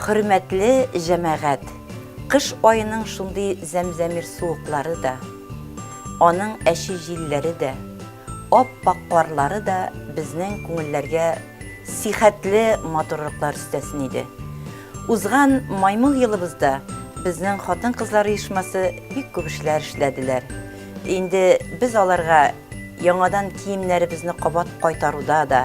Хөрмәтле җәмәгать, кыш айының шундый зәмзәмир суыклары да, аның әче җилләре дә, Ап-ак карлары да безнең күңелләргә сихәтле матурлыклар өстәсен иде. Узган Маймыл елыбызда безнең хатын-кызлар оешмасы бик күп эшләр эшләделәр. Инде без аларга яңадан киемнәребезне кабат кайтаруда да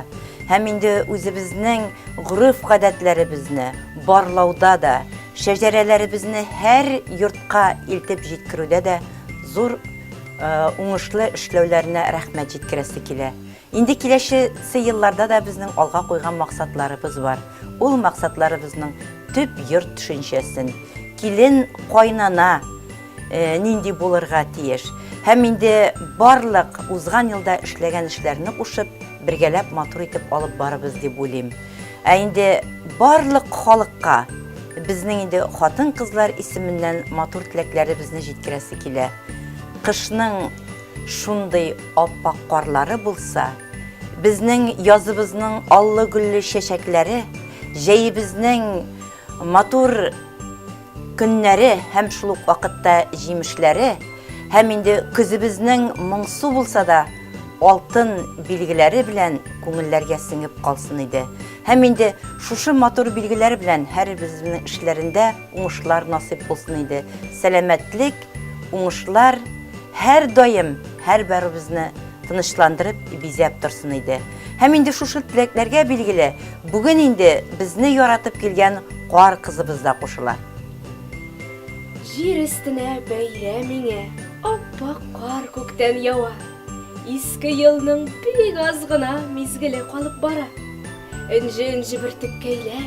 һәм инде үзебезнең гореф-гадәтләребезне барлауда да, шәҗәрәләребезне һәр йортка илтеп җиткерүдә дә зур уңышлы эшләүләренә рәхмәт җиткерәсе килә. Инде киләчесе елларда да безнең алга куйган максатларыбыз бар. Ул максатларыбызның төп йорт төшенчәсен, килен, кайнана нинди булырга тиеш һәм инде барлык узган елда эшләгән эшләрне кушып, бергәләп матур итеп алып барыбыз дип уйлыйм. Ә инде барлык халыкка безнең инде хатын-кызлар исеменнән матур теләкләребезне җиткерәсе килә. Кышның шундый аппак карлары булса, безнең языбызның аллы-гөлле чәчәкләре, җәебезнең матур Көннәре һәм шул ук вакытта җимешләре һәм инде көзебезнең моңсу булса да алтын билгеләре белән күңелләргә сеңеп калсын иде. Һәм инде шушы матур билгеләр белән һәрбезебезнең эшләрендә уңышлар насыйп булсын иде. Сәламәтлек, уңышлар һәрдаим һәрбәребезне тынычландырып, бизәп торсын иде. Һәм инде шушы теләкләргә билгеле, бүген инде безне яратып килгән кар кызыбыз да кушыла. Җир өстенә бәйрәм иңә, аппак кар күктән ява. Иске елның бик аз гына мизгеле калып бара. Энҗе-энҗе бөртеккәйләр,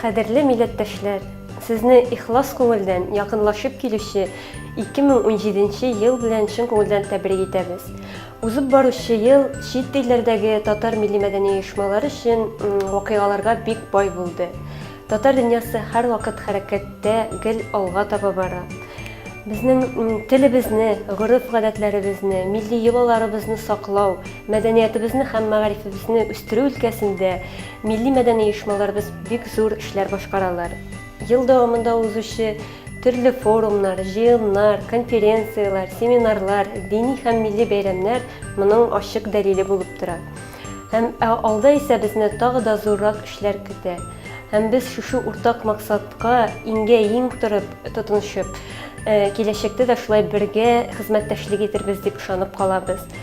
Кадерле милләттәшләр, сезне ихлас күңелдән якынлашып килүче 2017 ел белән чын күңелдән тәбрик итәбез. Узып баручы ел чит илләрдәге татар милли-мәдәни оешмалар өчен вакыйгаларга бик бай булды. Татар дөньясы һәрвакыт хәрәкәттә, гел алга таба бара. Безнең телебезне, гореф-гадәтләребезне, милли йолаларыбызны саклау, мәдәниятебезне һәм мәгарифебезне үстерү өлкәсендә Милли-мәдәни оешмаларыбыз бик зур эшләр башкаралар. Ел дәвамында узучы төрле форумнар, җыеннар, конференцияләр, семинарлар, дини һәм милли бәйрәмнәр моның ачык дәлиле булып тора. Һәм ә алда исә безне тагы да зуррак эшләр көтә. Һәм без шушы уртак максатка иңгә иң торып, тотынышып, киләчәктә дә шулай бергә хезмәттәшлек итәрбез дип ышанып калабыз.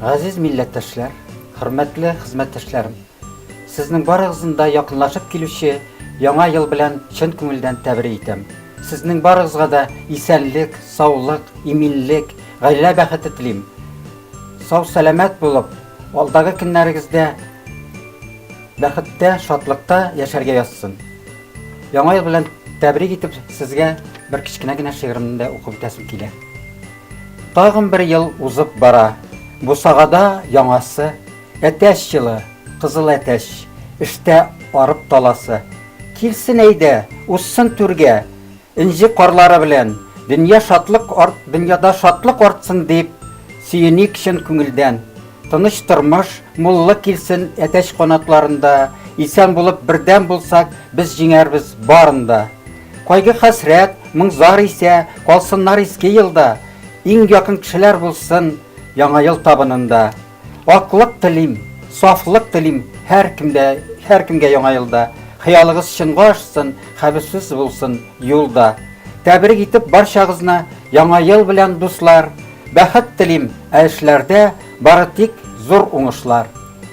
Газиз милләттәшләр, хөрмәтле хезмәттәшләрем! Сезнең барыгызны да якынлашып килүче Яңа ел белән чын күңелдән тәбрик итәм. Сезнең барыгызга да исәнлек, саулык, иминлек, гаилә бәхете телим. Сау-сәламәт булып, алдагы көннәрегездә бәхеттә, шатлыкта яшәргә язсын. Яңа ел белән тәбрик итеп, сезгә бер кечкенә генә шигыремне дә укып үтәсем килә. Тагын бер ел узып бара. Бусагада яңасы, әтәч җылы, кызыл әтәч, эштә арып таласы. Килсен әйдә, узсын түргә, энҗе карлары белән, дөнья шатлык арт, дөньяда шатлык артсын дип сөеник чын күңелдән. Тыныч тормыш, муллык килсен әтәч канатларында, исән булып бердәм булсак, без җиңәрбез барын да. Кайгы-хәсрәт, моң-зар исә калсыннар иске елда, иң якын кешеләр булсын Яңа ел табынында. Аклык телим, сафлык телим һәркемдә, һәркемгә Яңа елда. Хыялыгыз чынга ашсын, хәвефсез булсын юл да. Тәбрик итеп барчагызны Яңа ел белән, дуслар! Бәхет телим, ә эшләрдә бары тик зур уңышлар!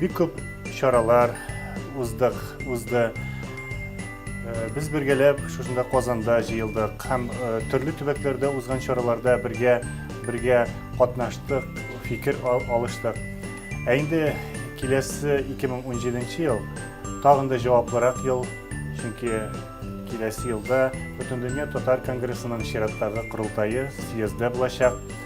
Бик күп чаралар уздык, узды. Э, без бергәләп шушында Казанда җыелдык һәм э, төрле төбәкләрдә узган чараларда бергә бергә катнаштык, фикер алыштык. Ә инде киләсе 2017 ел тагын да җаваплырак ел, чөнки киләсе елда Бөтендөнья татар конгрессының чираттагы корылтае, съезды булачак.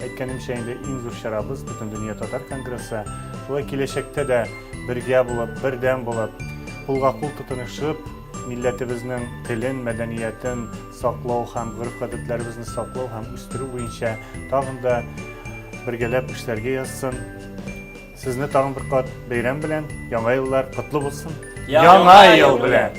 Әйткәнемчә инде иң зур чарабыз, Бөтендөнья татар конгрессы. Шулай киләчәктә дә бергә булып, бердәм булып, кулга-кул тотынышып, милләтебезнең телен, мәдәниятен саклау һәм гореф-гадәтләребезне саклау һәм үстерү буенча тагын да бергәләп эшләргә язсын. Сезне тагын бер кат бәйрәм белән, Яңа еллар котлы булсын! Яңа ел белән!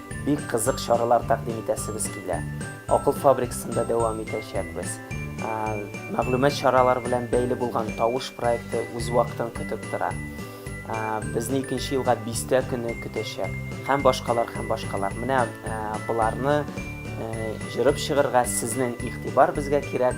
Бик кызык чаралар тәкъдим итәсебез килә. Акыл фабрикасында дәвам итәчәкбез. Мәгълүмат чаралары белән бәйле булган Тавыш проекты үз вакытын көтеп тора. Безне икенче елга бистә көне көтәчәк. Һәм башкалар, һәм башкалар. Менә боларны җырып чыгырга сезнең игътибар безгә кирәк.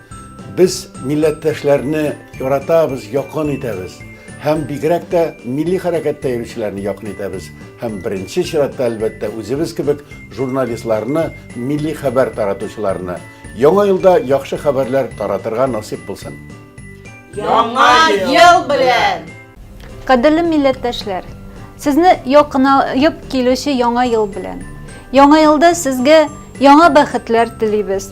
Без милләттәшләрне яратабыз, якын итәбез. Һәм бигрәк тә милли хәрәкәттә йөрүчеләрне якын итәбез. Һәм беренче чиратта, әлбәттә, үзебез кебек журналистларны, милли хәбәр таратучыларны. Яңа елда яхшы хәбәрләр таратырга насыйп булсын. Яңа ел белән! Кадерле милләттәшләр, сезне якынаеп килүче Яңа ел белән! Яңа елда сезгә яңа бәхетләр телибез!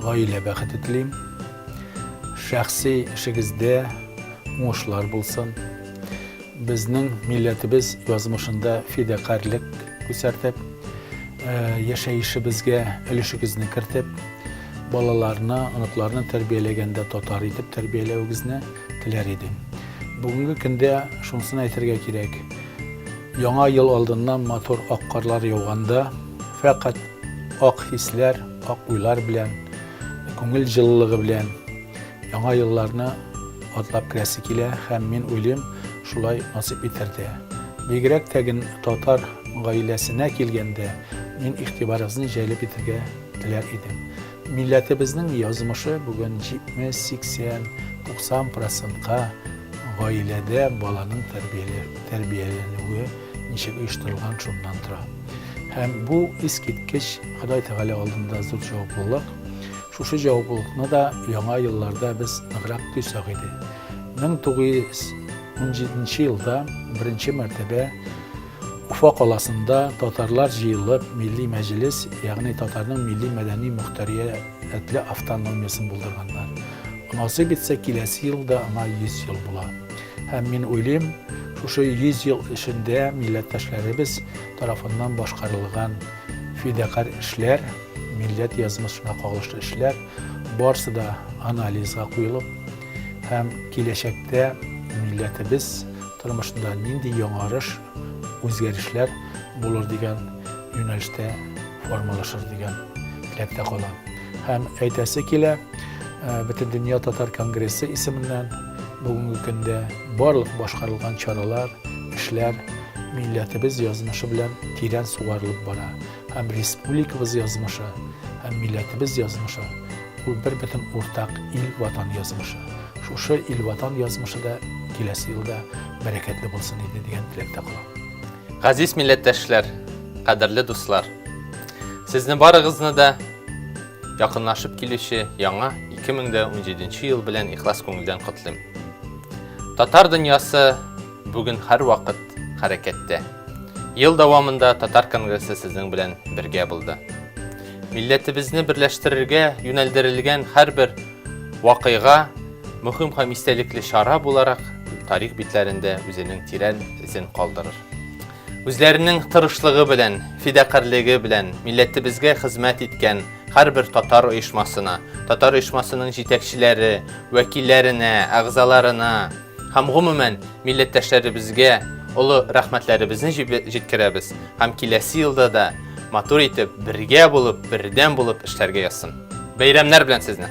Гаилә бәхете телим. Шәхси эшегездә уңышлар булсын. Безнең милләтебез язмышында фидакарьлек күрсәтеп, яшәешебезгә өлешегезне кертеп, балаларны, оныкларны тәрбияләгәндә татар итеп тәрбияләвегезне теләр идем. Бүгенге көндә шунысын әйтергә кирәк. Яңа ел алдыннан матур ак карлар яуганда, фәкать Ак хисләр, ак уйлар белән, күңел җылылыгы белән яңа елларны атлап керәсе килә һәм мин уйлыйм, шулай насыйп итәрдә. Бигрәк тә генә татар гаиләсенә килгәндә, мин игътибарыгызны җәлеп итәргә теләр идем. Милләтебезнең язмышы бүген 70, 80, 90 процентка гаиләдә баланың тәрбияләнүе ничек оештырылган шуннан тора. Һәм бу искиткеч Ходай Тәгалә алдында зур җаваплылык. Шушы җаваплылыкны да яңа елларда без ныграк тойсак иде. 1917 елда беренче мәртәбә Уфа каласында татарлар җыелып, милли мәҗлес, ягъни татарның милли мәдәни мөхтәриятле автономиясен булдырганнар. Насыйп итсә, киләсе елда аңа 100 ел була. Һәм мин уйлыйм, шушы 100 ел эчендә милләттәшләребез тарафыннан башкарылган фидакарь эшләр, милләт язмышына кагылышлы эшләр барсы да анализга куелып һәм киләчәктә милләтебез Тормышында нинди яңарыш, үзгәрешләр булыр дигән юнәлештә формалашыр дигән теләктә калам. Һәм әйтәсе килә, Бөтендөнья татар конгрессы исеменнән бүгенге көндә барлык башкарылган чаралар, эшләр милләтебез язмышы белән тирән сугарылып бара. һәм республикабыз язмышы, һәм милләтебез язмышы, ул бер бөтен уртак ил-ватан язмышы. Шушы ил-ватан язмышы да киләсе елда бәрәкәтле булсын иде дигән теләктә калам. Газиз милләттәшләр, кадерле дуслар, сезне барыгызны да якынлашып килүче яңа 2017 ел белән ихлас күңелдән котлыйм. Татар дөньясы Бүген һәрвакыт хәрәкәттә. Ел дәвамында Татар конгрессы сезнең белән бергә булды. Милләтебезне берләштерергә юнәлдерелгән һәрбер вакыйга мөһим һәм истәлекле чара буларак тарих битләрендә үзенең тирән эзен калдырыр. Үзләренең тырышлыгы белән, фидакарьлеге белән милләтебезгә хезмәт иткән һәрбер татар оешмасына, татар оешмасының җитәкчеләре, вәкилләренә, әгъзаларына, Һәм гомумән милләттәшләребезгә олы рәхмәтләребезне җиткерәбез һәм киләсе елда да матур итеп, бергә булып, бердәм булып эшләргә язсын. Бәйрәмнәр белән сезне!